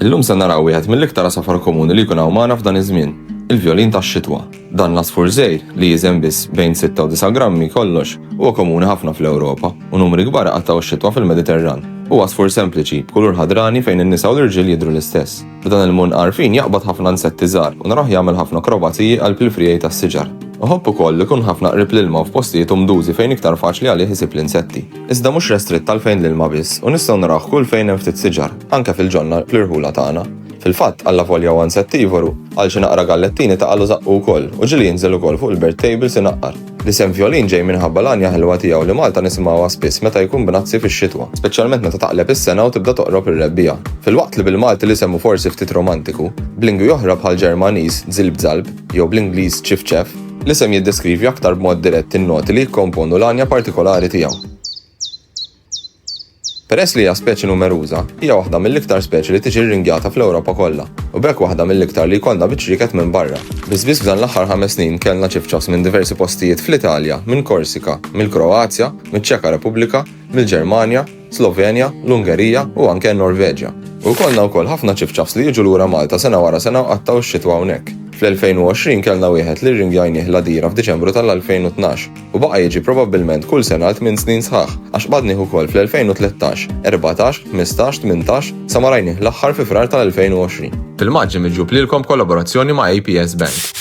Illum se naraw wieħed mill-iktar għasafar komuni li jkun hawn magħna f'dan iż-żmien, il-vjolin tax-xitwa. Dan l-għasfur żgħir, li jiżen biss bejn sitta u disa' grammi kollox, huwa komuni ħafna fl-Ewropa, u numri kbar iqattgħu x-xitwa fil-Mediterran. Huwa għasfur sempliċi, b'kulur ħadrani fejn in-nisa u l-irġiel jidhru l-istess. F'dan il-munn għarfien jaqbad ħafna insetti żgħar u narawh jagħmel ħafna akrobaziji qalb il-friegħi tas-siġar. Iħobb ukoll li jkun ħafna qrib l-ilma u f'postijiet umdużi fejn iktar faċli għalih isib l-insetti. Iżda mhux restritt għal fejn l-ilma biss u nistgħu narawh kull fejn hemm ftit siġar. Anke fil-ġonna, fl-irħula tagħna. Fil-fatt, allavolja huwa insettivoru, għal xi naqra gallettini taqagħlu żaqqu wkoll, u ġieli jinżel ukoll fuq il-bird tables inaqqar. L-isem Vjolin ġej minħabba l-għanja ħelwa tiegħu li Malta nisimgħuha spiss meta jkun b'nazzi fix-xitwa, speċjalment meta taqleb is-sena u tibda toqrob ir-rebbiegħa. Filwaqt li bil-Malti l-isem hu forsi ftit romantiku, b'lingwi oħra bħall-Ġermaniż zilb zalb jew bl-Ingliż chiff chaff, l-isem jiddeskrivi aktar b'mod dirett in-noti li jikkomponu l-għanja partikolari tiegħu. Peress li hija speċi numeruża, hija waħda mill-iktar speċi li tiġi rringjata fl-Ewropa kollha, u b'hekk waħda mill-iktar li jkollna biċ-ċrieket minn barra. Biss biss f'dan l-aħħar ħames snin kellna ċifċafs minn diversi postijiet fl-Italja, minn Korsika, mill-Kroazja, miċ-Ċeka Repubblika, mill-Ġermanja, Slovenja, l-Ungerija u anke n-Norveġja. U jkollna wkoll ħafna ċifċafs li jiġu lura Malta sena wara sena u qattgħu x-xitwa hawnhekk. Fl-2020 kellna wieħed li rringjajnieh l-Għadira f'Diċembru tal-2012. u baqa' jiġi probabbilment kull sena għal tmien snin sħaħ, għax qbadnih ukoll fl-2013, erbatax, ħmistax, tmintax, sa ma rajnih l-aħħar fi Frar tal-2020. Filmaġġi miġjub lilkom b'kollaborazzjoni ma' APS Bank.